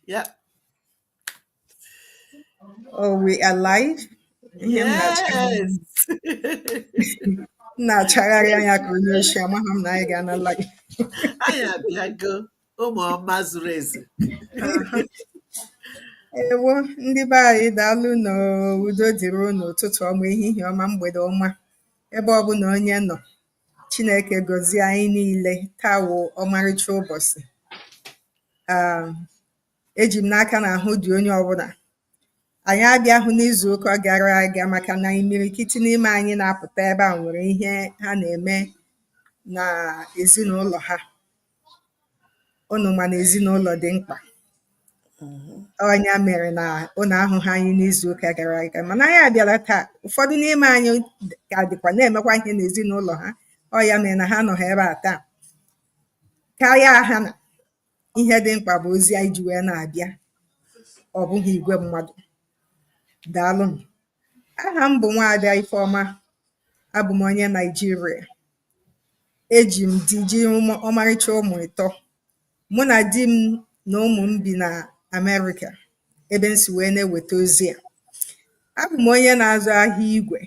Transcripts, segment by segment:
yeah. Oh, we are live. Yes. M na-achagharị anya ka onye oshi amaghị m na anyị gaana live. Anyị abịago ụmụ ọma zuru ezu. Ewo ndị be anyị daalụnụ udo dịrị unu ụtụtụ ọma ehihie ọma mgbede ọma ebe ọbụla onye nọ Chineke gọzie anyị niile taa wụ ọmarịcha ụbọchị ah, eji m n'aka na ahụ dị onye ọbụla anyị abịahụ n'izu ụka gara aga maka na imirikiti n'ime anyị na-apụta ebe a nwere ihe ha na-eme na ezinụlọ ha Ụnụ ma na ezinụlọ dị mkpa. Ọ ya mere na ụnụ ahụghị anyị n'izuụka gara aga. Mana anyị abịala taa. Ụfọdụ n'ime anyị ka dịkwa na-emekwa ihe n'ezinụlọ ha. Ọ ya mere na ha anọghị ebe a taa. Karịa ha na ihe dị mkpa bụ ozi anyị ji wee na-abịa. Ọ bụghị igwe mmadụ. Daalụnụ. Aha m bụ Nwaada Ifeọma. Abụ m onye Naịjirịa. Eji m di ji ọmarịcha ụmụ ịtọ. Mụ na di m na ụmụ m bi na Amerịka ebe m si wee na-eweta ozi a. Abụ m onye na-azụ ahịa igwe,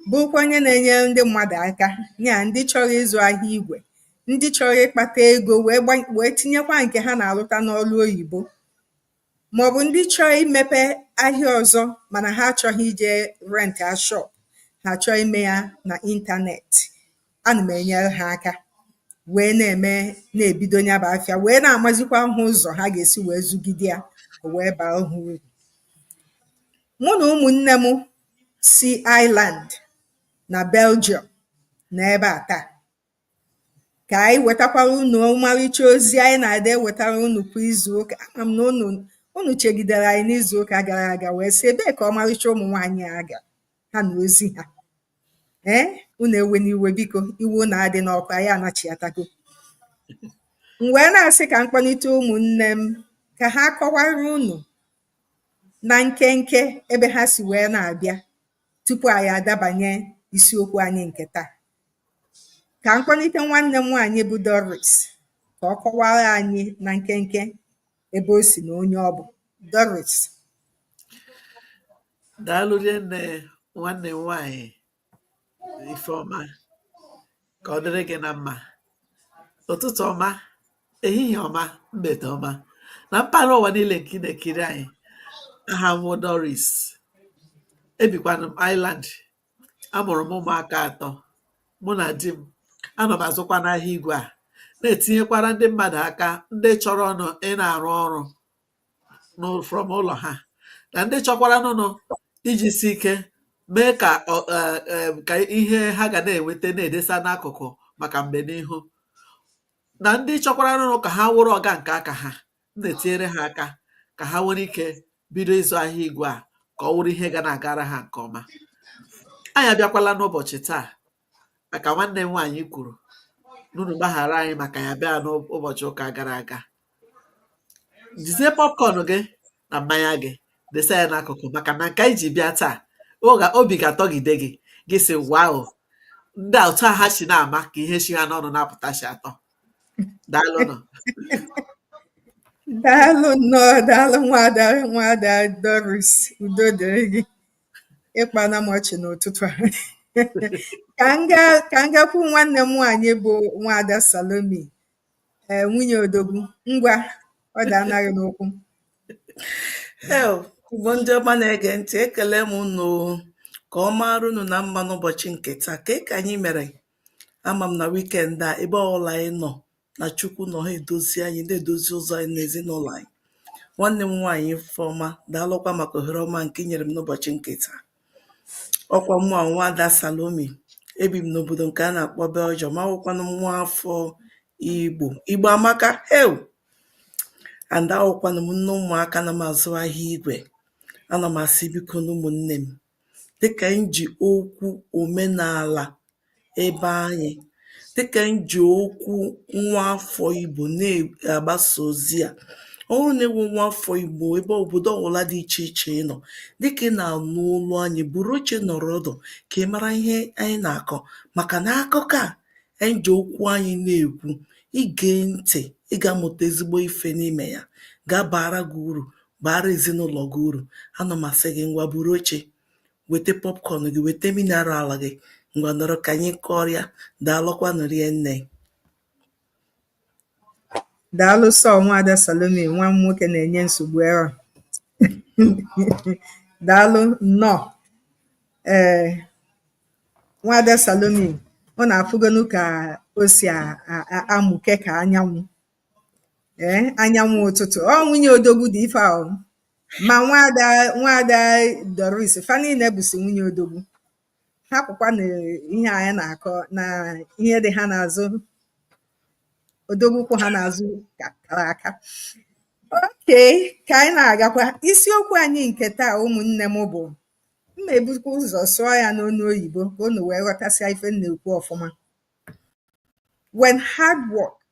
bụrụkwa onye na-enye ndị mmadụ aka, ya ndị chọrọ ịzụ ahịa igwe, ndị chọrọ ịkpata ego wee tinyekwa nke ha na-alụta n'ọrụ oyibo. màọ̀bụ̀ ndị chọọ imēpē ahịa ọ̀zọ mànà ha achọ̄ghị ijē rent a shop ha chọọ imē ya nà internet anà m̀ ènyere hā aka wèe na-ème na-èbido ya bụ̄ afịa wèe na-àmazikwa hā ụzọ̀ ha gà-èsi wèe zụgide yā ò wèe bàa hā urù mụ nà ụmụ̀nnē m si Ireland nà Belgium nọ̀ ebe à taà ka anyị wetakwara unu ọmarịcha ozi anyị na-adị ewetara unu kwa izu ụka ama m na unu chegidere anyị n'izu ụka gara aga wee sị ebee ka ọmarịcha ụmụ nwaanyị a ga ha na ozi ha ee unu ewena iwe biko iwe unu adịna ọkụ anyị anachiatago m wee na-asị ka m kpọlite ụmụnne m ka ha kọwara unu na nkenke ebe ha si wee na-abịa tupu anyị adabanye isiokwu anyị nke taa ka m kpọlite nwanne m nwaanyị bụ Doris ka ọ kọwara anyị na nkenke ebe o si na onye ọ bụ Doris daalụ rinne nwanne m nwaanyị Ifeọma ka ọ dịrị gị na mma ụtụtụ ọma ehihie ọma mgbede ọma na mpaghara ụwa niile nke ị na-ekiri anyị aha m wụ Doris ebikwanụ m Ireland Amụrụ m ụmụaka atọ, mụ na di m. Anọ m azụkwa n'ahịa igwe a, na-etinyekwara ndị mmadụ aka ndị chọrọnụ ịna-arụ ọrụ n'ụ- from ụlọ ha na ndị chọkwaranụnụ iji si ike mee ka ọ- eh, eh, ka ihe ha ga na-enweta na-edesa n'akụkụ maka mgbe n'ihu na ndị chọkwaranụnụ ka ha wụrụ ọga nke aka ha m na-etinyere ha aka ka ha nwere ike bido ịzụ ahịa igwe a ka ọ wụrụ ihe ga na-agara ha nke ọma anyị abịakwala n'ụbọchị taa maka nwanne m nwaanyị kwuru n'unu gbaghara anyị maka ya bịa n'ụbọchị ụka gara aga jizie popcorn gị na mmanya gị desa ya n'akụkụ maka na nke anyị ji bịa taa obi ga-atọgide gị gị sị wow ndị a otu a ha si na-ama ka ihe si ha n'ọnụ na-apụta si atọ daalụnụ daalụ nnọọ daalụ nwaada nwaada Doris udo dịrị gị ị kpaana m ọchị n'ụtụtụ a ka m gaa ka m gakwu nwanne m nwaanyị bụ nwaada Salome ee eh, nwunye odogwu ngwa ọ dị anaghị n'okwu Igbo ndị ọma na-ege ntị ekele m unu ka ọ maara unu na mma n'ụbọchị nke taa ka ka anyị mere Ama m na weekend a ebe ọbụla anyị nọ na Chukwu nọ ha edozi anyị na-edozi ụzọ anyị na ezinụlọ anyị. Nwanne m nwaanyị Ifeọma daalụkwa maka ohere ọma nke i nyere m n'ụbọchị nke taa. Ọ kwa mụ a nwaada Salome ebi m n'obodo nke a na-akpọ Belgium awụkwanụ m nwa afọ Igbo Igbo amaka heu and awụkwanụ m nne ụmụaka na m azụ ahịa igwe ana m asị biko na ụmụnne m dịkà anyị jì okwu òmenàlà ebe anyị dịkà anyị jì okwu nwa afọ Igbo na-agbasa ozi à ọ wụrụ nà ị wụ nwa afọ Igbo ebe òbòdo ọwụla dị ichè ichè ị nọ̀ dịkà ị nà-ànụ olu anyị bùru oche nọ̀rọ ọdụ̀ kà ị mara ihe anyị nà-àkọ màkà nà akụkọ à anyị jì okwu anyị na-èkwu ị gèe ntị̀ ị gà-amụ̀ta ezigbo ifē n'imè ya ga-abàra gị urù baara ezinụlọ gị uru ana m asị gị ngwa buru oche weta popcorn gị weta mineral gị ngwa nọrọ ka anyị kọrịa daalụkwanụ rinne daalụ sọ nwaada Salome nwa m nwoke na-enye nsogbu ebe a daalụ nnọọ ee nwaada Salome unu afụgonu ka o si amụke ka anyanwụ ee anyanwụ ụtụtụ ọ nwunye odogwu dị ife ahụ ma nwada nwada doris fa niile bụsi nwunye odogwu hapụkwa na ihe anyị na-akọ na ihe dị ha n'azụ odogwu kwụ ha n'azụ ka kara aka okay ka anyị na-agakwa isiokwu anyị nke taa ụmụnne m bụ m ma-ebukwa ụzọ sụọ ya n'onu oyibo ka unu wee ghọtasịa ife m na-ekwu ọfụma when hard work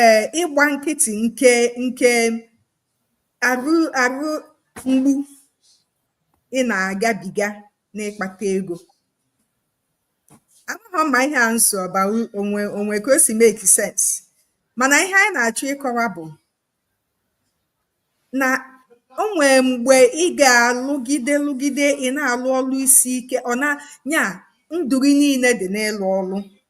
ee ịgba nkịtị nke nke arụ arụ mgbu ị na-agabiga n'ịkpata ego amaghọ ma ihe a m sụ ọ ba o nwee ka o si make sense mana ihe anyị na-achọ ịkọwa bụ na o nwee mgbe ị ga-alụgide lụgide ị na-alụ ọlụ isi ike ọ na nya ndụ gị niile dị n'ịlụ ọlụ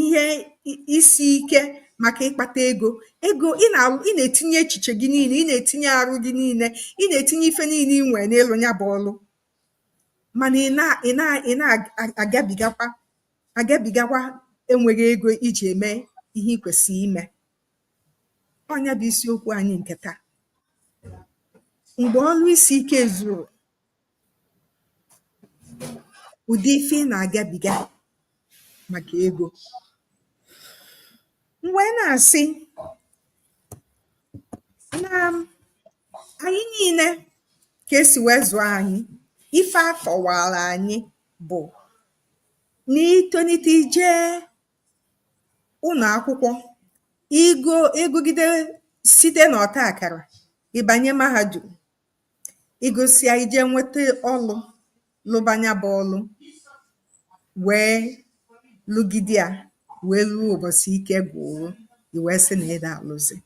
ihe isi ike maka ịkpata ego ego ị na ị na-etinye echiche gị niile ị na-etinye arụ gị niile ị na-etinye ife niile ị nwere n'ịlụ ya bụ ọlụ mana ị na ị na ị na-agabigakwa agabigakwa enweghị ego iji eme ihe ị kwesịrị ime ọ nya bụ isiokwu anyị nke taa mgbe ọlụ isi ike ezuro Ụdị ife ị na-agabiga maka ego. M wee na-asị na anyị niile ka e si wee zụọ anyị, ife a kọwaara anyị bụ na i tolite i jee ụlọ akwụkwọ, ị gụọ ị gụgide site n'ọta akara, ị banye mahadum. Ị gụsịa, i jee nweta ọlụ, lụba nya bụ ọlụ, wee lụgide ya wee ruo ụbọchị ike gwụrụ gị, i wee sị na ị da alụzi.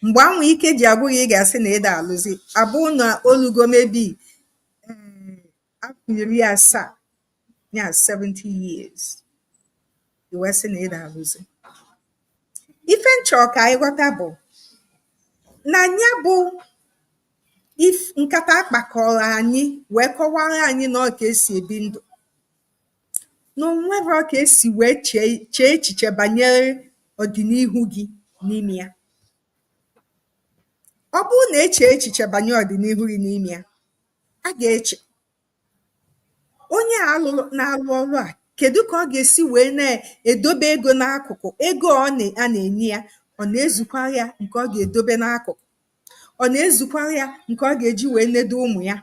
Mgbe ahụ ike ji agwụ gị, ị ga-asị na ị da alụzi, abụ na o lugo maybe afọ iri asaa ya 70 years i wee sị na ị da alụzi ife m chọ ka anyị ghọta bụ na nya bụ nkata a kpakọrọ anyị wee kọwara anyị na ọ ka e si ebi ndụ na o nwerọ ka e si wee chee echiche banyere ọdịnihu gị n'ime ya ọ bụrụ na e chee echiche banyere ọdịnihu gị n'ime ya A ga-eche onye na-arụ ọrụ a kedu ka ọ ga-esi wee na-edobe ego n'akụkụ ego ọ na a na-enye ya ọ na-ezukwara ya nke ọ ga-edobe n'akụkụ ọ na-ezukwara ya nke ọ ga-eji wee nedo ụmụ ya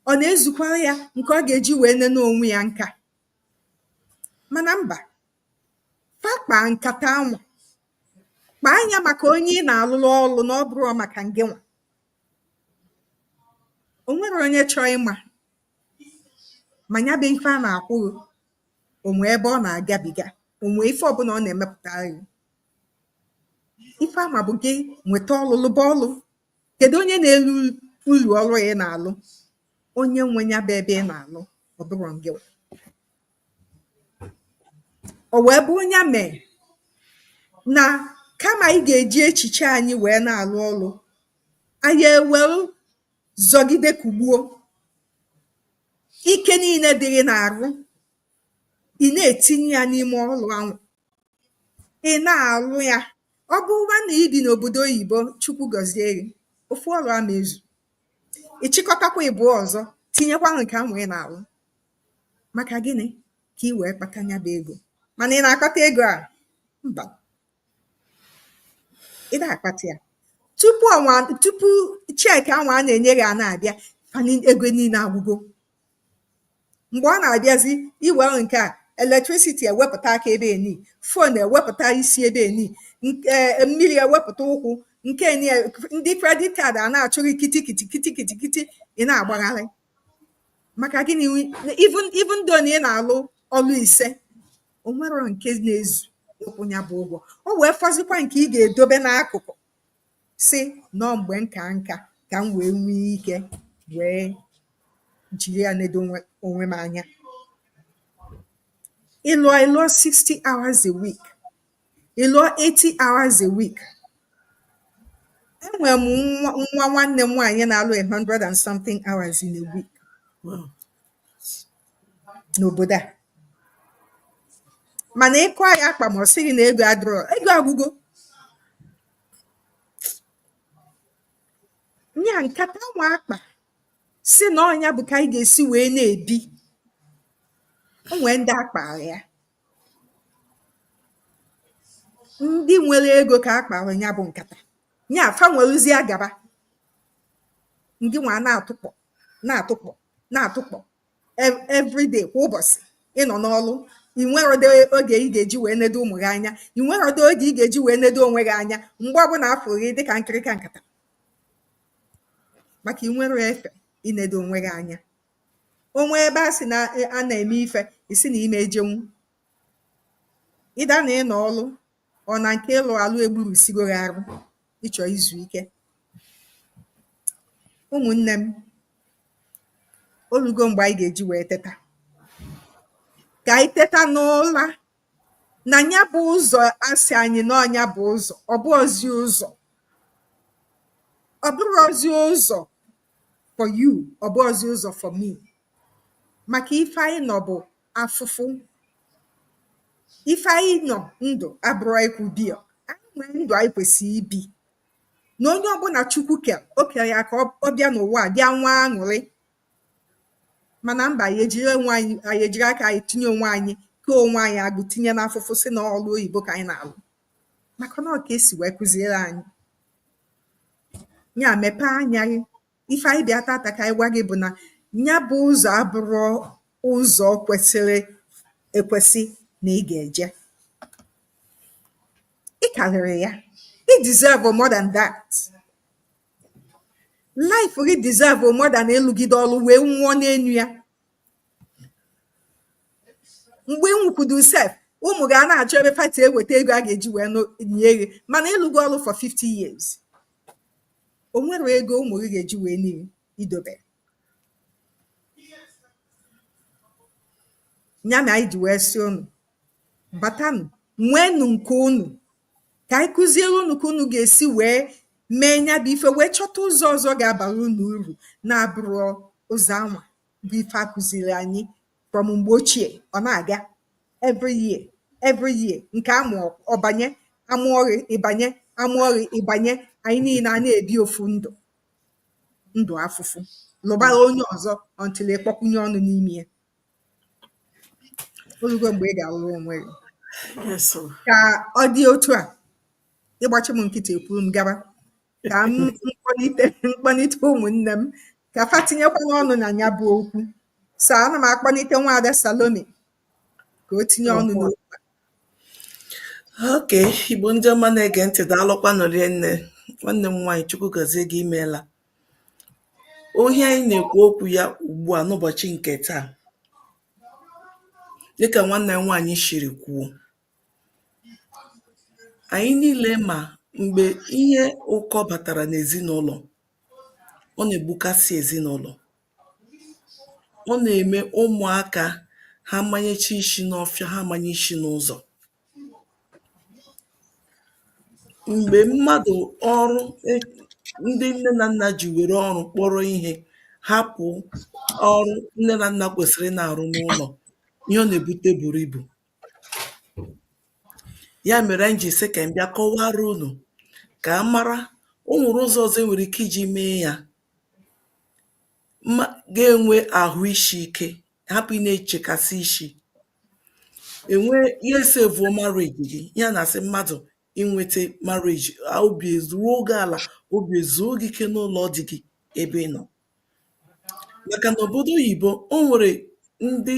ọ na-ezukwara ya nke ọ ga-eji wee nene onwe ya nka mana mba fa kpaa nkata anwa kpaa nya maka onye ị na-alụrụ ọrụ na ọ bụrọ maka ngịnwa o nwere onye chọọ ịma ma ya bụ ife a na-akwụ gị o nwee ebe ọ na-agabiga o nwee ife ọbụla ọ na-emepụtara gị ife a ma bụ gị nweta ọlụ lụba ọlụ kedu onye na-eli ulu ọlụ ị na-alụ onye nwe ya bụ ebe ị na-alụ ọ bụrọ ngịwa O wee bụrụ ya mere na kama anyị ga-eji echiche anyị wee na-arụ ọrụ, anyị ewerụ zọgide kụgbuo. Ike niile dị gị n'arụ, ị na-etinye ya n'ime ọrụ ahụ. Ị na-arụ ya. Ọ bụrụkwa na i bi n'obodo oyibo, Chukwu gọzie gị, ofu ọrụ ama ezu. Ị chịkọtakwa ịbụọ ọzọ tinyekwa nke ahụ ị na-arụ. Maka gịnị? Ka i wee kpata ya bụ ego. Mana ị na-akpata ego a? Mba. Ị na-akpata ya. Tupu ọnwa tupu check ahụ a na-enye gị a na-abịa ego niile agwụgo. Mgbe ọ na-abịazi i were nke a electricity ewepụta aka ebe eni, phone ewepụta isi ebe eni, e, mmiri ewepụta ụkwụ nke ndị credit card a na-achụ gị kitikiti kitikiti kiti ị na-agbagharị maka gịnị even even though na ị na-alụ ọlụ ise o nwere nke na-ezu ịkwụ ya bụ ụgwọ o wee fọzikwa nke ị ga-edobe n'akụkụ sị na ọ mgbe nka nka ka m wee nwee ike wee jiri ya nedo onwe onwe m anya ị lụọ ị lụọ 60 hours a week Ị lụọ 80 hours a week. Enwere m nwa nwa nwanne m nwaanyị na-alụ 100 and something hours in a week Wow. n'obodo a. Mana ịkụ anyị akpa ma ọ sị gị na ego adịrọ, ego agwụgo. Nya nkata anwa a kpa sị na ọ nya bụ ka anyị ga-esi wee na-ebi. O nwee ndị a kpaara ya. ndị nwere ego ka a kpaara nya bụ nkata, ya fa welụzie gaba, gịnwa na-atụkpọ na-atụkpọ na-atụkpọ every day kwa ụbọsị ị nọ n'ọrụ i nwerọdị oge ị ga-eji wee nedo ụmụ gị anya, i nwerọdị oge ị ga-eji wee nedo onwe gị anya mgbe ọbụla a fụrụ gị dị ka nkịrịka nkata maka i nwerọ efe inedo onwe gị anya. O nwee ebe a sị na a na-eme ife, ị sị na ị ma ejenwu. Ịda na ị nọ ọrụ ọ na nke ịlụ alụ egburusigo gị arụ ịchọ izu ike. Ụmụnne m, olugo mgbe anyị ga-eji wee teta. Ka anyị teta n'ụla na nya bụ ụzọ a sị anyị na ọ nya bụ ụzọ, ọ bụrọzi ụzọ. Ọ bụrọzi ụzọ for you ọ bụghọzi ụzọ for me maka ife anyị nọ bụ afụfụ ife anyị nọ ndụ abụrọ anyị kwụ biya anyị nwee ndụ anyị kwesịrị ibi na onye ọbụla Chukwu kelụ o kelụ ya ka ọ bịa n'ụwa a bịa nwee aṅụrị mana mba anyị ejiri onwe anyị anyị ejiri aka anyị tinye onwe anyị kee onwe anyị agbụ tinye n'afụfụ sị na ọlụ oyibo ka anyị na-alụ maka na ọ ka e si wee kụziere anyị ya mepee anya gị ife anyị bịa tata ka anyị gwa gị bụ na nya bụ ụzọ abụrọ ụzọ kwesịrị ekwesị na ị ga-eje ị karịrị ya ị deserve more than that life gị deserve more than ịlụgide ọlụ wee nwụọ n'enu ya mgbe ị nwụkwudu sef ụmụ gị a na-achọ ebe fa si eweta ego a ga-eji wee nie gị mana ị lụgo ọlụ for 50 years o nwerọ ego ụmụ gị ga-eji wee nie gị i dobe nya mere anyị ji wee sị unu batanụ nweenụ nke unu ka anyị kụziere unu ka unu ga-esi wee mee nya bụ ife wee chọta ụzọ ọzọ ga-abara unu uru na-abụrọ ụzọ anwa bụ ife a kụziri anyị from mgbe ochie ọ na-aga every year every year nke a mụ ọ banye a mụọ gị ị banye a mụọ gị ị banye anyị niile a na-ebi ofu ndụ ndụ afụfụ lụbara onye ọzọ until ị kpọkwunye ọnụ n'ime ya olugo mgbe ị ga-alụrụ onwe gị ka ọ dị otu a ị gbachi m nkịtị ekwuru m gaba ka m kpọnite ụmụnne m ka fa tinyekwanụ ọnụ na ya bụ okwu so ana m akpọnite nwaada Salome ka o tinye ọnụ n'okwu okay Igbo ndị ọma na-ege ntị daalụkwanụ rinne nwanne m nwaanyị chukwu gọzie gị imeela ọ ihe anyị na-ekwu okwu ya ugbu a n'ụbọchị nke taa dịka nwanne m nwaanyị shiri kwuo Anyị niile ma mgbe ihe ụkọ batara n'ezinụlọ, ọ na-egbukasị ezinụlọ. Ọ na-eme ụmụaka ha amanyecha isi n'ọfịa, ha amanye isi n'ụzọ. Mgbe mmadụ ọrụ e ndị nne na nna ji were ọrụ kpọrọ ihe hapụ ọrụ nne na nna kwesịrị ịna-arụ n'ụlọ, ihe ọ na-ebute buru ibu. Ya mere anyị ji sị ka anyị bịa kọwaara unu ka a mara o nwere ụzọ ọzọ e nwere ike iji mee ya ga-enwe ahụ isi ike hapụ ị na-echekasị isi enwe ya esevuo marriage gị ya na-asị mmadụ inweta marriage obi eruo gị ala obi ezuo gị ike n'ụlọ di gị ebe ị nọ maka na obodo oyibo o nwere ndị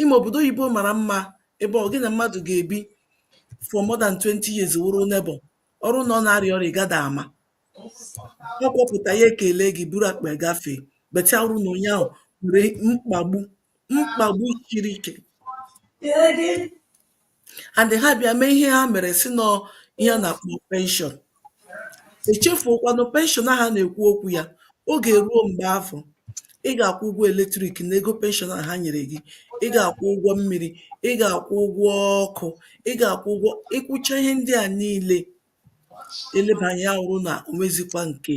Ịma obodo oyibo mara mma ebe ọ gị na mmadụ ga-ebi for more than 20 years wụrụ neighbor. Ọ bụrụ na ọ na-arịa ọrịa, ị gadị ama. Ọ kpọpụta ya ekele gị buru akpa ya gafee. But ya wụrụ na onye ahụ nwere mkpagbu mkpagbu siri ike. and ha bịa mee ihe ha mere sị na ọ ihe a na-akpọ penshọn echefuokwanụ penshọn ahụ a na-ekwu okwu ya oge eruo mgbe afụ ị ga-akwụ ụgwọ eletrik na ego penshọn a ha nyere gị ị ga-akwụ ụgwọ mmiri ị ga-akwụ ụgwọ ọkụ ị ga-akwụ ụgwọ ị kwụcha ihe ndị a niile elebanye ya wụrụ na o nwezikwa nke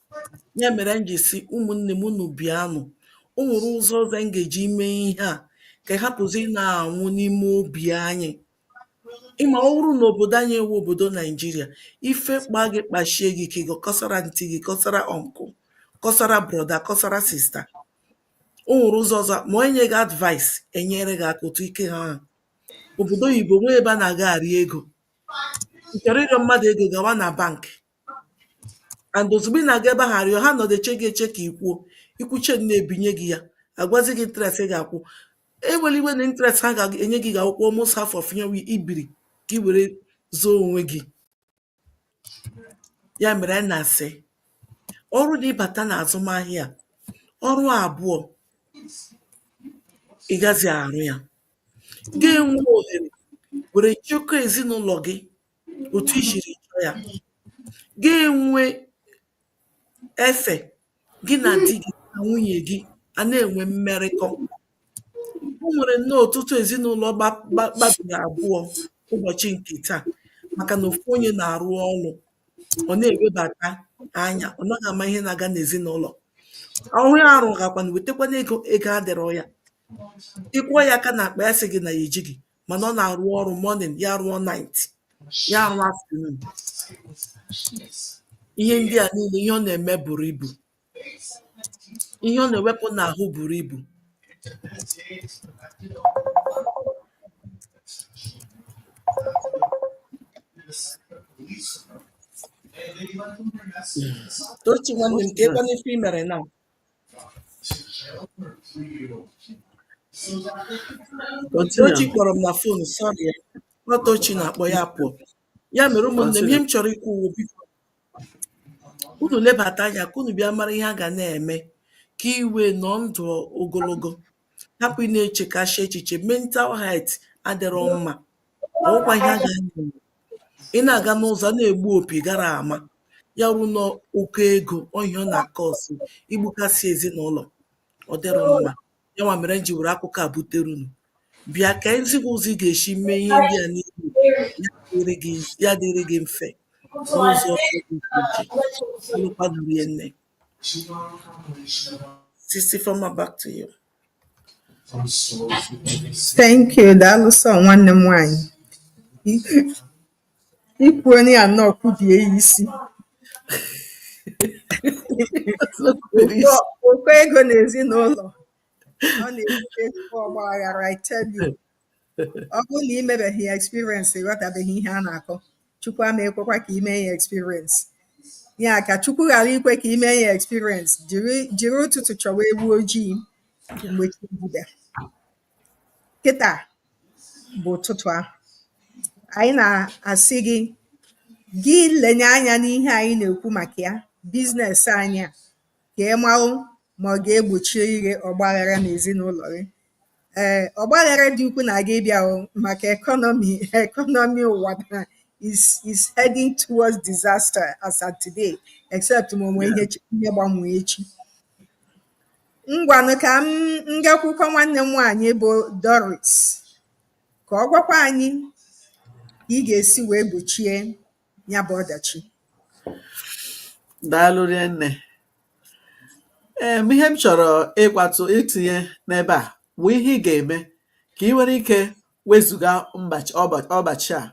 Ya mere m ji si ụmụnne m unu bịanụ. O nwere ụzọ ọzọ anyị ga-eji mee ihe a ka hapụzi ị na-anwụ n'ime obi anyị. Ịma ọ bụrụ na obodo anyị wụ obodo Naijiria, ife kpa gị kpashie gị ike gị akọsara antị gị, kọsara ọnkụ, kọsara brọda, kọsara sista. O nwere ụzọ ọzọ ma onye nye gị advice enyere gị aka otu ike ha ha. Obodo oyibo nwee ebe a na-aga arịọ ego. Ị chọrọ ịrịọ mmadụ ego gawa na bank. and ozugbo ị na-aga ebe ahụ arịọ ha nọdụ eche gị eche ka ị kwuo ị kwuchaa na ebinye gị ya agwazi gị interest ị ga-akwụ ewere iwe na interest ha ga-enye gị ga-akwụkwa almost half of ihe i biri ka ị were zọọ onwe gị ya mere anyị na-asị ọ bụrụ na ị bata na azụmahịa a ọrụ abụọ ị gazi arụ ya ga-enwe ohere were chekwa ezinụlọ gị otu i siri chọọ ya ga-enwe efe gị na di gị na nwunye gị a na-enwe mmerịkọ o nwere nnọọ ọtụtụ ezinụlọ gba gba gbabiri abụọ ụbọchị nke taa maka na ofu onye na-arụ ọrụ ọ na-ewebata anya ọ naghị ama ihe na-aga n'ezinụlọ ọrụ ya arụ gakwana wetakwana ego ego adịrọ ya ị kwụọ ya aka n'akpa ya sị gị na ya ejighị mana ọ na-arụ ọrụ morning ya rụọ night ya rụọ afternoon ihe ndị a niile ihe ọ na-eme buru ibu ihe ọ na-ewepụ n'ahụ buru ibu Tochi nwanne m ka ịkwana ife i mere na Tochi kpọrọ m na phone sorry ya ọ Tochi na-akpọ ya pụọ ya mere ụmụnne m ihe m chọrọ ikwu wụ biko unu lebata anya ka unu bịa mara ihe a ga na-eme ka i wee nọ ndụ ogologo hapụ ị na-echekasị echiche mental health adịrọ mma ọkwa ihe a ga na-eme ị na-aga n'ụzọ a na-egbu opi ị gara ama ya bụ na ụkọ ego ọ ihe ọ na-akasị igbukasị ezinụlọ ọ dịrọ mma ya nwa mere m ji were akụkọ a butere unu bịa ka m zi gị ụzọ ị ga-esi mee ihe ndị a niile ya dịrị gị ya dịrị gị mfe n'ụzọ dị iche iche daalụkwanụ rinne Sis Ifeoma back to you Thank you. Daalụ sọ nwanne m nwaanyị. I kwuona ya nnọọ kwubie ya isi. Ụkọ ụkọ ego n'ezinụlọ ọ na-ebute ezigbo ọgba aghara I tell you. Ọ bụrụ na ị mebeghị ya experience ị ghọtabeghị ihe a na-akọ. Chukwu ama ekwekwa ka i mee ya experience ya ka Chukwu ghara ikwe ka i mee ya experience jiri jiri ụtụtụ chọwa ewu ojii mgbe chi bida kịta bụ ụtụtụ ahụ anyị na-asị gị gị lenye anya n'ihe anyị na-ekwu maka ya business anyị a ka ị marụ ma ọ ga-egbochi ihe ọgbaghara n'ezinụlọ gị ee ọgbaghara dị ukwu na-aga ịbịa maka economy economy ụwa na is is heading towards disaster as at today except ma o nwee ihe ihe gbanwee echi ngwanụ ka m gakwukwọ nwanne m nwaanyị bụ Doris ka ọ gwakwa anyị ka ị ga-esi wee gbochie ya bụ ọdachi daalụ rinne ee ihe m chọrọ ịkwatụ itinye n'ebe a bụ ihe ị ga-eme ka ị nwere ike wezụga ọdachi a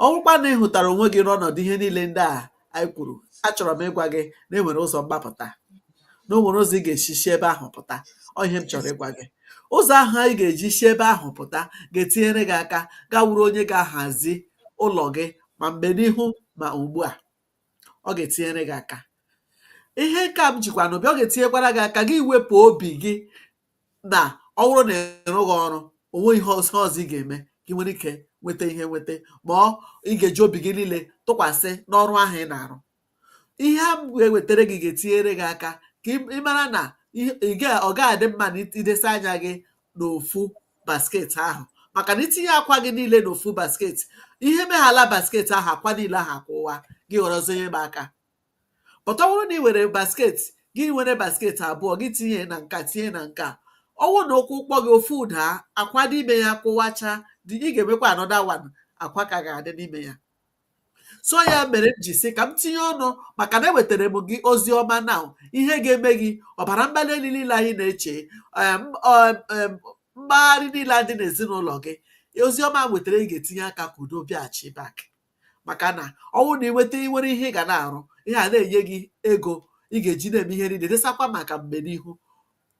ọ bụrụkwa na ị hụtara onwe gị n'ọnọdụ ihe niile ndị a anyị kwuru achọrọ m ịgwa gị na enwere ụzọ mgbapụta na o nwere ụzọ ị ga-esi si ebe ahụ pụta ọ ihe m chọrọ ịgwa gị ụzọ ahụ anyị ga-eji si ebe ahụ pụta ga-etinyere gị aka gị awụrụ onye ga-ahazi ụlọ gị ma mgbe n'ihu ma ugbu a ọ ga-etinyere gị aka ihe nke a m jikwa n'obi ọ ga-etinyekwara gị aka gị wepụ obi gị na ọ bụrụ na ị rụghị ọrụ o nweghị ihe ọzọ ọzọ ị ga-eme ka ị nwere ike nweta ihe nweta ma ọ ị ga-eji obi gị niile tụkwasị n'ọrụ ahụ ị na-arụ ihe a ga-ewetara gị ga-etinyere gị aka ka ị mara na ọ ga-adị mma na idesa anya gị n'ofu basket ahụ maka na itinye akwa gị niile n'ofu basket ihe meghala basket ahụ akwa niile ahụ akụwa gị ghọrọzie ihe m aka but ọ wụrụ na ị were basket gị were basket abụọ gị tinye na nka tinye na nka ọ wụrụ na ụkwụ kpọọ gị ofu adaa akwa dị n'ime ya kụwacha ị ga-enwekwa another one akwa ka ga-adị n'ime ya so ya mere m ji sị ka m tinye ọnụ maka na ewetara m gị ozi ọma na ihe ga-eme gị ọbara mgbali elu niile ahụ ị na-eche mgbagharị niile dị n'ezinụlọ gị ozi ọma m wetara ị ga-etinye aka ka udo bịaghachi back maka na ọ wụrụ na ị nweta nwere ihe ị ga na-arụ ihe a na-enye gị ego ị ga-eji na-eme ihe niile desakwa maka mgbe n'ihu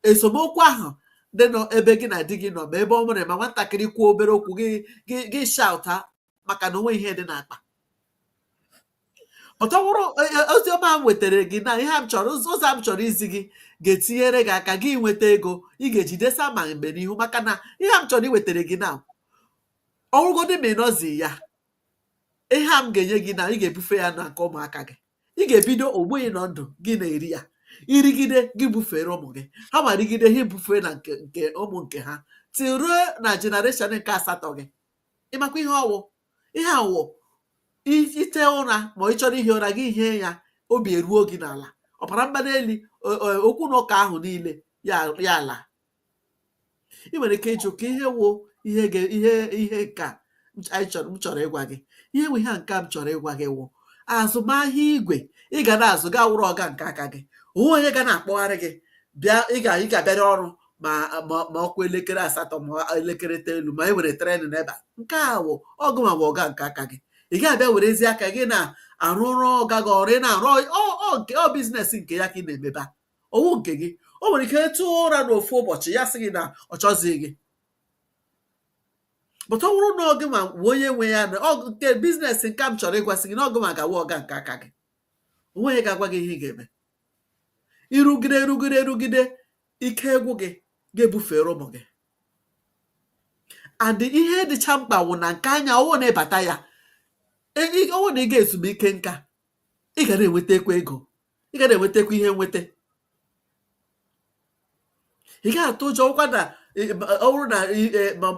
esemokwu ahụ dị n'ebe gị na di gị nọ ma ebe ọ wụrụ ma nwatakịrị kwuo obere okwu gị gị gị shauta maka na o nweghị ihe dị n'akpa but ọ wụrụ ozi ọma m wetara gị na ihe a m chọrọ ụzọ ụzọ a m chọrọ izi gị ga-etinyere gị aka gị nweta ego ị ga-eji desa ma mgbe n'ihu maka na ihe a m chọrọ iwetara gị na ọ wụrụgodị ma ị nọzi ya ihe a m ga-enye gị na ị ga-ebufe ya na nke ụmụaka gị ị ga-ebido ugbu ị nọ ndụ gị na-eri ya i rigide gị bufere ụmụ gị ha nwa rigide ha ebufee na nke nke ụmụ nke ha tiruo na generation nke asatọ gị ị makwa ihe ọ wụ ihe a wụ ite ụra ma ị chọrọ ihi ụra gị hie ya obi eruo gị n'ala ọbara mgbali elu okwu na ụka ahụ niile ya alaa ị nwere ike ịjụ kee ihe wụ ihe ihe ihe nka m chọrọ ịgwa gị ihe wụ ihe nka m chọrọ ịgwa gị wụ azụmahịa igwe ị ga na-azụ gị awụrụ ọga nke aka gị o nweghị onye ga na-akpọgharị gị bịa ị ga-abịarị ọrụ ma ọkwa elekere asatọ ma elekere itolu ma e were tren n'ebe a nke a wụ ọ gịwa bụ ọga nke aka gị ị ga-abịa werezie aka gị na-arụ ọrụ ọga gị ọrụ ị na-arụ ọ business nke ya ka ị na-emeba ọ wụghị nke gị o nwere ike tee ụra n'ofu ụbọchị ya sị gị na ọ chọzighị gị but ọ bụrụ na ọ gịwa wụ onye nwe ya na ọ wụ nke business nke m chọrọ ịgwasị gị na ọ gịwa ga-awụ ọga nke aka gị o nweghị onye ga-agwa gị ihe ị ga-eme ị rụgide rụgide rụgide ike agwụ gị ga-ebufere ụmụ gị and ihe dịcha mkpa wụ na nke anyị a ọ wụ na ị bata ya ọ wụ na ị gaa ezumike nka ị ga na-enwetakwa ego ị ga na-enwetakwa ihe nweta ị gaghị atụ ụjọ ọkwa na ọ wụrụ na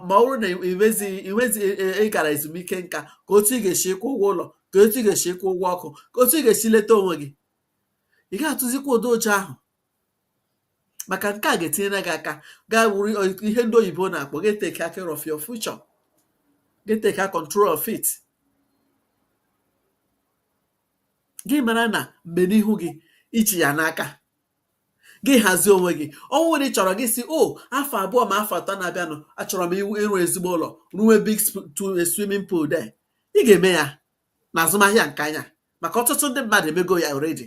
ma ọ wụrụ na iwezi iwezi ị gara ezumike nka ka otu ị ga-esi kwụọ ụgwọ ụlọ ka otu ị ga-esi kwụọ ụgwọ ọkụ ka otu ị ga-esi leta onwe gị ị gaghị atụzikwa ụdị ụjọ ahụ maka nke a ga-etinyere gị aka gaa wuru ihe ndị oyibo na-akpọ gị e-take care of your future gị e-take control of it gị mara na mgbe n'ihu gị ị chị ya n'aka gị hazie onwe gị ọ wụrụ na ị chọrọ gị sị o afọ abụọ ma afọ atọ na-abịanụ achọrọ m ịrụ ezigbo ụlọ rụwe big swimming pool there ị ga-eme ya na azụmahịa nke anyị a maka ọtụtụ ndị mmadụ emego ya already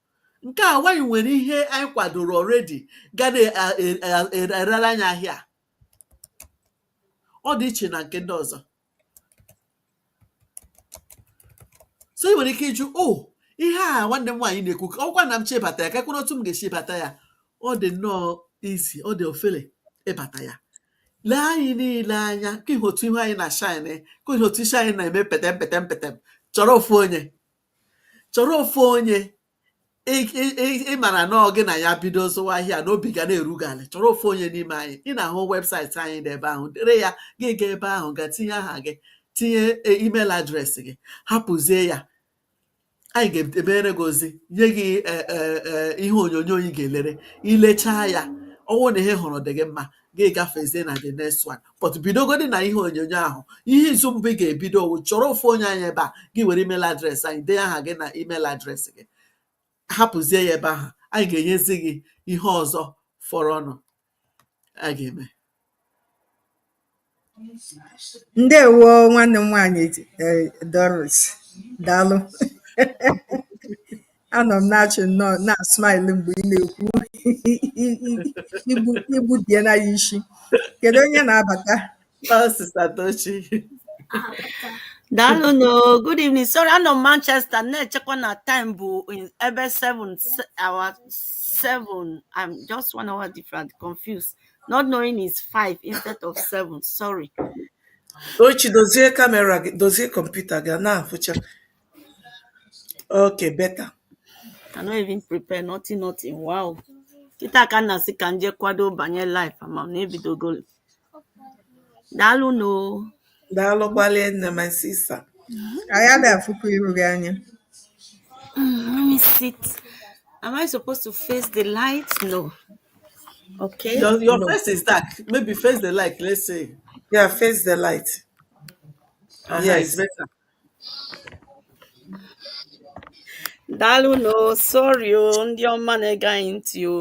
Nke a wụ anyị nwere ihe anyị kwadoro already ga na-erere anyị ahịa a. Ọ dị iche na nke ndị ọzọ. So i nwere ike ịjụ, oh, ihe a nwanne m nwaanyị na-ekwu, ọ bụkwa na m chọọ ịbata ya, keekwanụ otu m ga-esi bata ya? Ọ dị nnọọ easy, ọ dị ofele ịbata ya. Lee anyị niile anya, ka ị hụ otu ihu anyị na-shine, ka ị hụ otu isi anyị na-eme petem petem petem, chọrọ ofu onye. chọrọ ofu onye ị mara na ọ gị na ya bido zụwa ahịa na obi ga na-eru gị ala chọrọ ofu onye n'ime anyị ị na-ahụ website anyị dị ebe ahụ dere ya gị gaa ebe ahụ gaa tinye aha gị tinye email address gị hapụzie ya anyị ga-edere gị ozi nye gị e, e, e, ihe onyonyo ị ga-elere i lechaa ya ọ wụ na ihe ị hụrụ dị gị mma gị gafezie na the next one but bidogodi na ihe onyonyo ahụ ihe izu mbụ ị ga-ebido ọ wụ chọrọ ofu onye anyị ebe a gị were email address anyị dee aha gị na email address gị hapụzie ya ebe ahụ anyị ga-enyezi gị ihe ọzọ fọrọnụ a ga-eme Ndewo nwanne m nwaanyị eh, Doris daalụ anọ m na-achị nnọọ na-smile mgbe ị na-ekwu igbu die na ya isi kedu onye na-abata Sister Tochi daalụnụ good evening sorry anọ m Manchester na-echekwa na time bụ ebe 7 hour 7 I'm just one hour different confused not knowing it's five instead of seven sorry Tochi dozie kamera gị dozie kọmputa gị a na-afụcha okay better I no even prepare nothing nothing wow kịta ka m na-asị ka m je kwado banye live ama m na ebidogo daalụnụ Daalụ gbalịa nne my sister. Anyị adịghị afụkwa iru gị anya. Mm, let me sit. Am I supposed to face the light? No. Okay. Your, your no. face is dark. Maybe face the light. Let's see. Yeah, face the light. Uh-huh, yes. It's better. daalụnụ sorry o ndị ọma na-ege anyị ntị o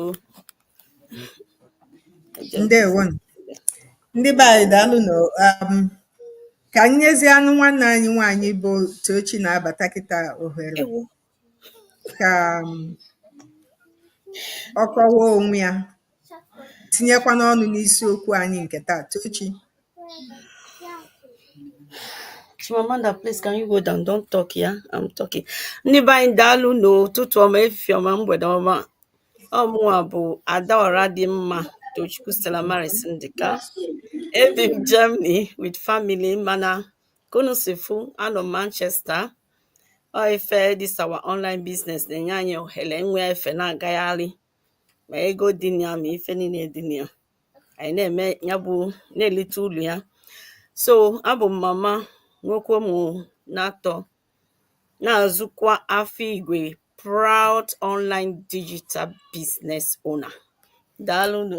ndewo ndị be anyị daalụnụ um, ka anyị nyezienụ nwanne anyị nwaanyị bụ Tochi na-abata kịta ohere ka um, ọ kọwaa onwe ya tinyekwanụ ọnụ n'isiokwu anyị nke taa Tochi Chimamanda, please can you go down? Don't talk, yeah? I'm talking. Ndị be anyị daalụnụ ụtụtụ ọma efifie ọma mgbede ọma ọ mụwa bụ Adaora dị mma Tochukwu Stella Maris Ndịka ebi m Germany with family mana ka unu si fụ anọ m Manchester ọ ife this our online business na-enye anyị ohere inwe efe na-agagharị ma ego dị na ya ma ife niile dị na ya anyị na-eme ya bụ na-elite ulu ya so abụ m mama nwoke ụmụ n'atọ na-azụkwa afọ igwe proud online digital business owner daalụnụ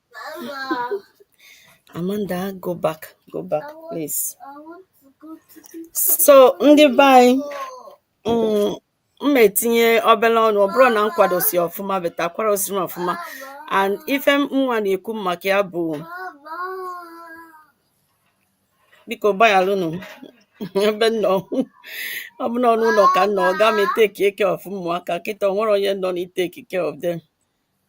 Amanda, go back, go back, please. So ndị be anyị mm, m na-etinye obele ọnụ ọ bụrụ na m kwadosi ọfụma but akwadosirọ m ọfụma and ife nwa na-ekwu maka ya bụ biko gbaghaalụnụ ebe m nọ ọ bụ n'ọnụ ụnọ ka m nọ aga m etake care of ụmụaka kịta o nwerọ onye nọ na-etake care of them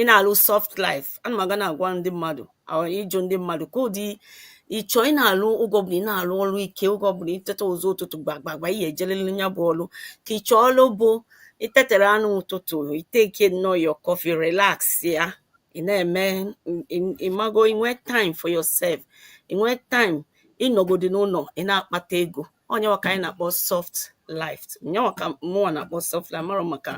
ị na-alụ soft life ana m aga na-agwa ndị mmadụ ịjụ ndị mmadụ kedụ ụdị ị chọ ị na-alụ oge ọbụla ị na-alụ ọlụ ike oge ọbụla i teta ụzọ ụtụtụ gbagbagba ị ya-ejelili ya bụ ọlụ ka ị chọọ ọlụ bụ i tetara n'ụtụtụ i take nnọọ your coffee relaxia ị na-eme ị mago inwe time for yourself inwe time ịnọgodi n'ụlọ ị na-akpata ego nyanwa ka anyị na-akpọ soft life nyanwa ka mụnwa na-akpọ soft life mara maka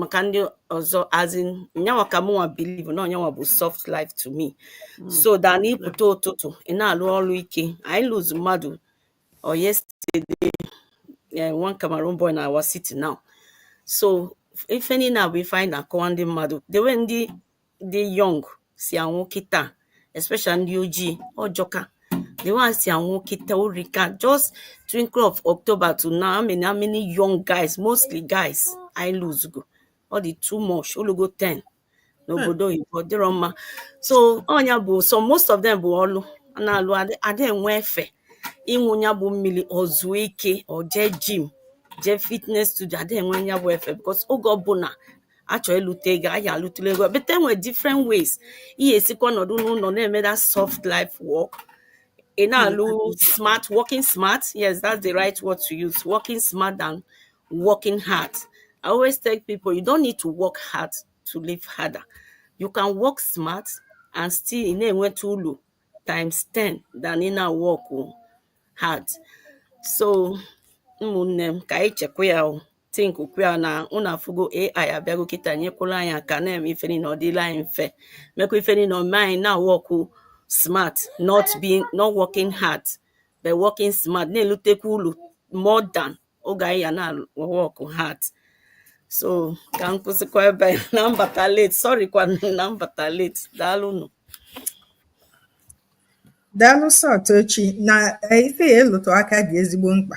maka ndị ọzọ as in nyanwa ka mụnwa believe na ọ nyanwa bụ soft life to me hmm. so than na ịpụta ụtụtụ ị na-alụ ọrụ ike anyị lose mmadụ o yesterday eh, one Cameroon boy na our city now so ife niile a bụ ife anyị na-akọwa ndị mmadụ the way ndị ndị young si anwụ kịta especially ndị ojii ọ jọka the way e si anwụ kịta o rika just twinkle of october to now how many how many young guys mostly guys e lose go ọ dị too much o lugo 10 n'obodo oyibo dịrọ mma so ọ nya bụ so most of them bụ ọlụ a na-alụ ada enwe efe ịṅụ ya bụ mmiri o zuo ike o jee gym jee fitness studio ada enwe ya bụ efe because oge ọbụla a chọ ịlụta ego anyị alụtụla ego but e nwere different ways ị ya-esikwa nọdụ n'ụlọ na-eme that soft life work ị na-alụ smart working smart yes that's the right word to use working smart than working hard i always tell people you don't need to work hard to live harder you can work smart and still ị na-enweta ulu times 10 than ị na-work hard so ụmụnne m ka anyị chekwa ya o think kwu ya na unu afụgo AI abịago kịta nyekwuru anyị aka na-eme ife niile ọ dịla anyị mfe mekwa ife niile o mee anyị na-work smart not being not working hard but working smart na-elutekwa ulu more than oge anyị ya na-work hard so ka m kwụsịkwa ebe na m bata late sorry kwa na m bata late daalụnụ daalụ sọ Tochi na eh, ife a ị lụtụ aka dị ezigbo mkpa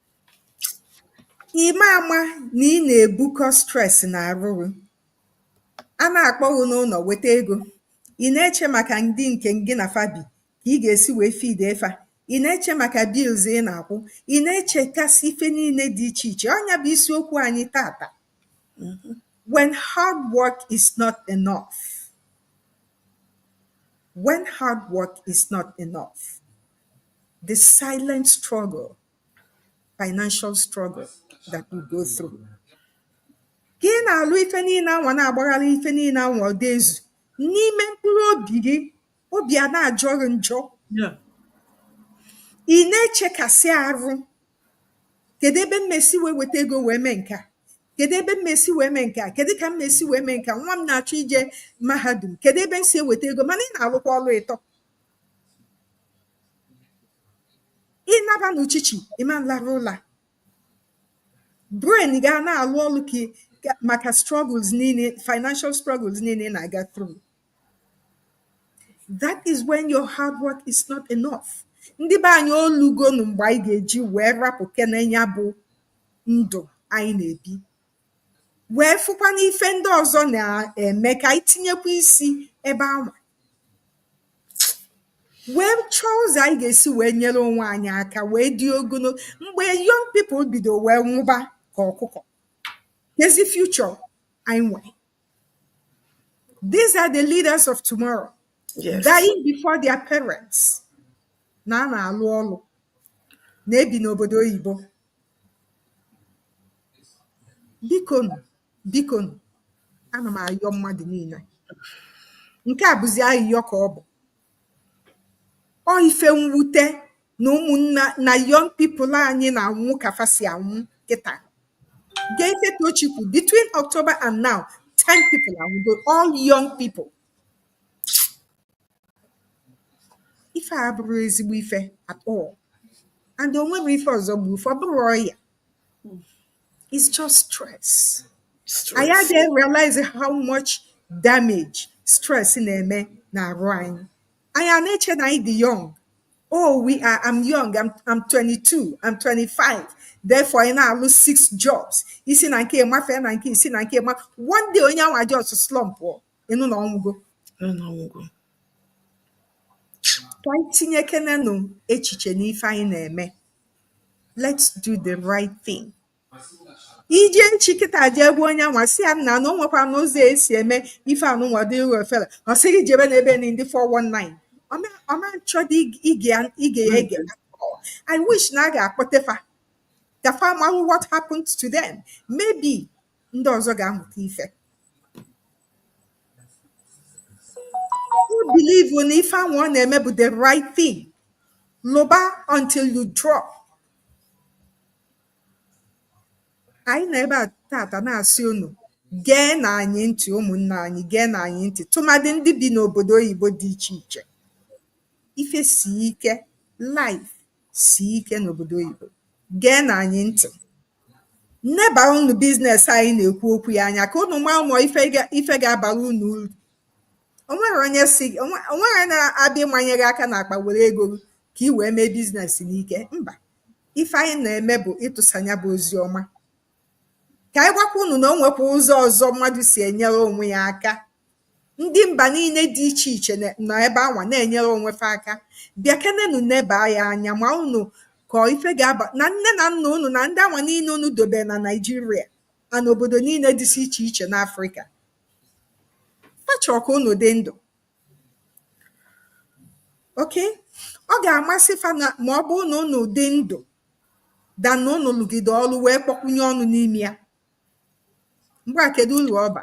Ịma ama na ị na-ebukọ stress na arụ gị. A na-akpọ gị n'ụlọ weta ego, ị na-eche maka ndị nke gị na fa bi, ka ị ga-esi wee feed-e fa. Ị na-eche maka bills ị na-akwụ. Ị na-echekasị ife niile dị iche iche. Ọ ya bụ isiokwu anyị tata. Mhm. When hard work is not enough. When hard work is not enough. The silent struggle financial struggle that we go through. Ka ị na-alụ ife niile anwa na-agbagharị ife niile anwa ọ da-ezu n'ime mkpụrụ obi gị obi a na-ajọ gị njọ Yeah. ị na-echekasị arụ kedu ebe mmesi wee weta ego wee mee nke a kedu ebe mmesi wee mee nke a kedu ka mmesi wee mee nke a nwa m na-achọ ije mahadum kedu ebe m si eweta ego mana ị na-alụkwa ọrụ ịtọ ị naba n'uchichì ị ma nlarụ ụlà brain gị a na-àlụ ọlụ kị kà màkà struggles niine financial struggles niine ị nà-àga through that is when your hard work is not enough ndị be anyị o lugonụ m̀gbè ànyị gà-èji wèe rapụkene ya bụ ndụ anyị nà-èbi wee fụkwa n'ife ndị ọzọ na-eme ka anyị tinyekwa isi ebe anwa wee chọọ ụzọ anyị ga-esi wee nyere onwe anyị aka wee dị ogologo mgbe young people bido wee nwụba ka ọkụkọ kezi future anyị nwere these are the leaders of tomorrow yes. dying before their parents na a na-alụ ọlụ na-ebi n'obodo oyibo biko nụ biko nụ ana m ayọ mmadụ niile nke a bụzi ayịyọ ka ọ bụ ọ ife mwute na ụmụnna na young people anyị na-anwụ ka fa si anwụ kịta gee ife Tochi kwuru between October and now 10 people anwụgo all young people ife a abụrọ ezigbo ife at all and o nwerọ ife ọzọ gbu fa ọ bụrọ ọya it's just stress anyị adịghị realize how much damage stress na-eme n'arụ anyị anyị a na-eche na anyị dị young oh we are i'm young i'm, I'm 22 i'm 25 therefore a na-alụ six jobs i si na nke mafee na nke i si na nke ma one day onye anwa just slump ị nụ na ọ nwụgo ka anyị tinyekenenụ echiche n'ife anyị na-eme let's do the right thing i je echi kịta jee gwa onye anwa sị ya na o nwekwa n'ụzọ e si eme ife anụnwa dịrị ofere ọ sị gị jebe n'ebe ni ndị 419 ọ ma nchọdị ige ya ege i wish na a ga-akpọte fa ka fa ma what happened to them maybe ndị ọzọ ga-amụta ife o believe na ife anwa ọ na-eme bụ the right thing lụba until you drop anyị nọ ebe a taata na-asị unu geenụ anyị ntị ụmụnne anyị geenụ anyị ntị tụmadị ndị bi n'obodo oyibo dị iche iche ife si ike life si ike n'obodo oyibo. Geenụ anyị ntị. Nebarụnụ business anyị na-ekwu okwu ya anya ka unu maa ma ọ ife ga- ife ga-abara unu uru. O nwerọ onye sị o nwe- o nwerọ onye na-abịa ịmanye gị aka n'akpa were ego gị ka ị wee mee business n'ike. Mba. Ife anyị na-eme bụ ịtụsa nya bụ ozi ọma. Ka anyị gwakwa unu na o nwekwa ụzọ ọzọ mmadụ si enyere onwe ya aka Ndị mba niile dị iche iche na- nọ ebe anwa na-enyere onwe fa aka. Bịakenenu nebaa ya anya maanụ ka ọ ife ga-aba na nne na nna unu na ndị anwa niile unu dobere na Naịjirịa na n'obodo niile dịsị iche iche n'Afrịka. Fa chọrọ ka unu dị ndụ. Okay? Ọ ga-amasị fa na ma ọ bụrụ na unu dị ndụ than na unu lụgide ọlụ wee kpọkwụnye ọnụ n'ime ya. mgbe a kedu uru ọ ba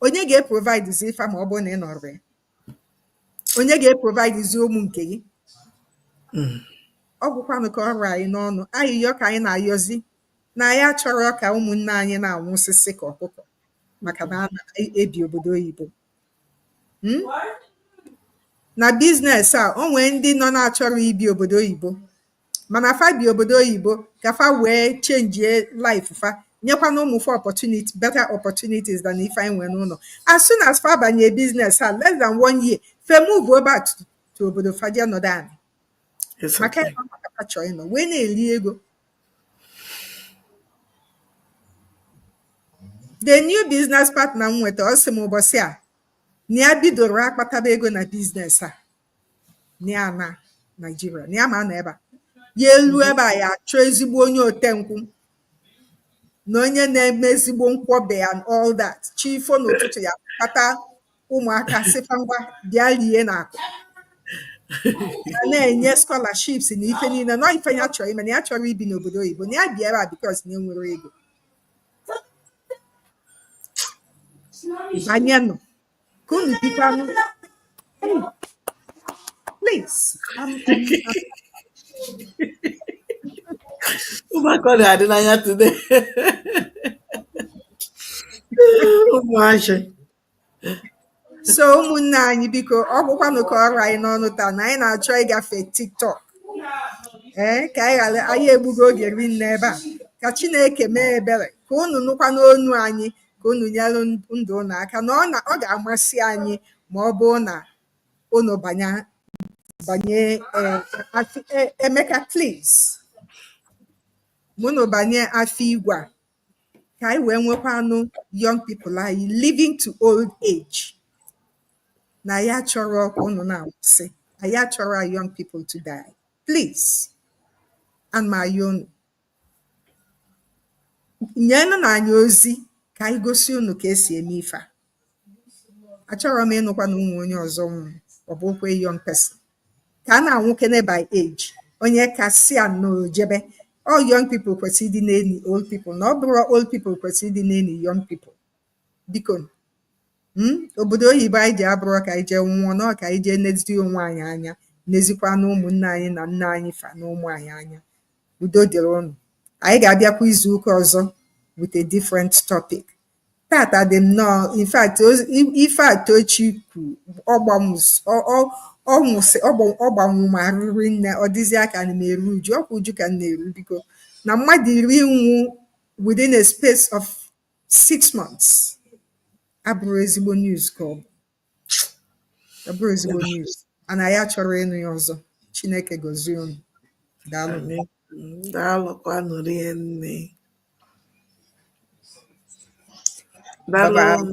onye ga-eprovide zi fa ma ọ bụrụ na ị nọrọ ya onye ga-eprovide zi ụmụ nke gị ọ gwụkwanụ ka ọ ra anyị n'ọnụ ayịyọ ka anyị na-ayọzi na anyị achọrọ ka ụmụnne anyị na-anwụsịsị ka ọkụkọ maka na a na-ebi obodo oyibo Hmm? na biznes a o nwee ndị nọ na-achọrọ ibi obodo oyibo mana fa bi obodo oyibo ka fa wee chenjie life fa nyekwanụ ụmụ fa opportunity better opportunities than ife anyị nwere n'ụlọ as soon as fa banye biznes a less than one year fa emove back to obodo fa je nọdụ anị It's maka okay. ịnọ maka fa chọọ ịnọ wee na-eli ego the new business partner m nweta ọ sị m ụbọsị a na ya bidoro akpataba ego na biznes a na ya na naijiria na ya ma na ebe a ya elu ebe a ya achọọ ezigbo onye ote nkwụ na onye na-eme ezigbo nkwọbi and all that chi fo n'ụtụtụ ya kpata ụmụaka sị fa ngwa bịa lie na akụ a na-enye scholarships na ife niile na ife ya chọrọ ime na ya chọrọ ibi n'obodo oyibo na ya bịa ebe a because na enwere ego banyenụ ka unu bikwanụ please I'm, I'm, ụmụaka ọ na-adị n'anya today ụmụazị so ụmụnne anyị biko ọ gwụkwanụ ka ọ ra anyị n'ọnụ taa na anyị na-achọ ịgafe tiktok ee ka anyị ghara anyị egbugo oge rinne ebe a ka chineke mee ebere ka unu nụkwanụ onu anyị ka unu nyere ndụ unu aka na ọ ga-amasị anyị ma ọ bụrụ na unu banye banye eh, eh, emeka please ma unu banye afọ igwe a ka anyị wee nwekwanụ young people anyị living to old age na anyị achọrọ ka unu na-anwụsị anyị achọrọ our young people to die please and ma unu nyenụ na anyị ozi ka anyị gosi unu ka esi eme ife a achọrọ m ịnụkwa na o nwe onye ọzọ nwụrụ ọ bụkwa young person ka a na-anwụkene by age onye kasịa na o jebe ọ young people kwesịrị ịdị na-eni old people na ọ bụrọ old people kwesịrị ịdị na-eni young people biko mm, obodo oyibo anyị je abụrọ ka anyị jee nwụọ na ka anyị jee nezi onwe anyị anya nezikwa na ụmụnne anyị na nne anyị fa na ụmụ anyị anya udo dịrị unu anyị ga-abịakwa izu ụka ọzọ with a different topic tata dị nnọọ in fact ife a Tochi kwu ọ gbanwụ m arụ rinne ọ dịzịa ka ana m eru uju ọkwa uju ka m na-eru biko na mmadụ iri nwụ within a space of six months abụrọ ezigbo news ka ọ bụ ọ bụrọ ezigbo news anyị achọrọ ịnụ ya ọzọ chineke gozie unu daalụ Amen. Daalụkwanụ rinne. Daalụ. bye bye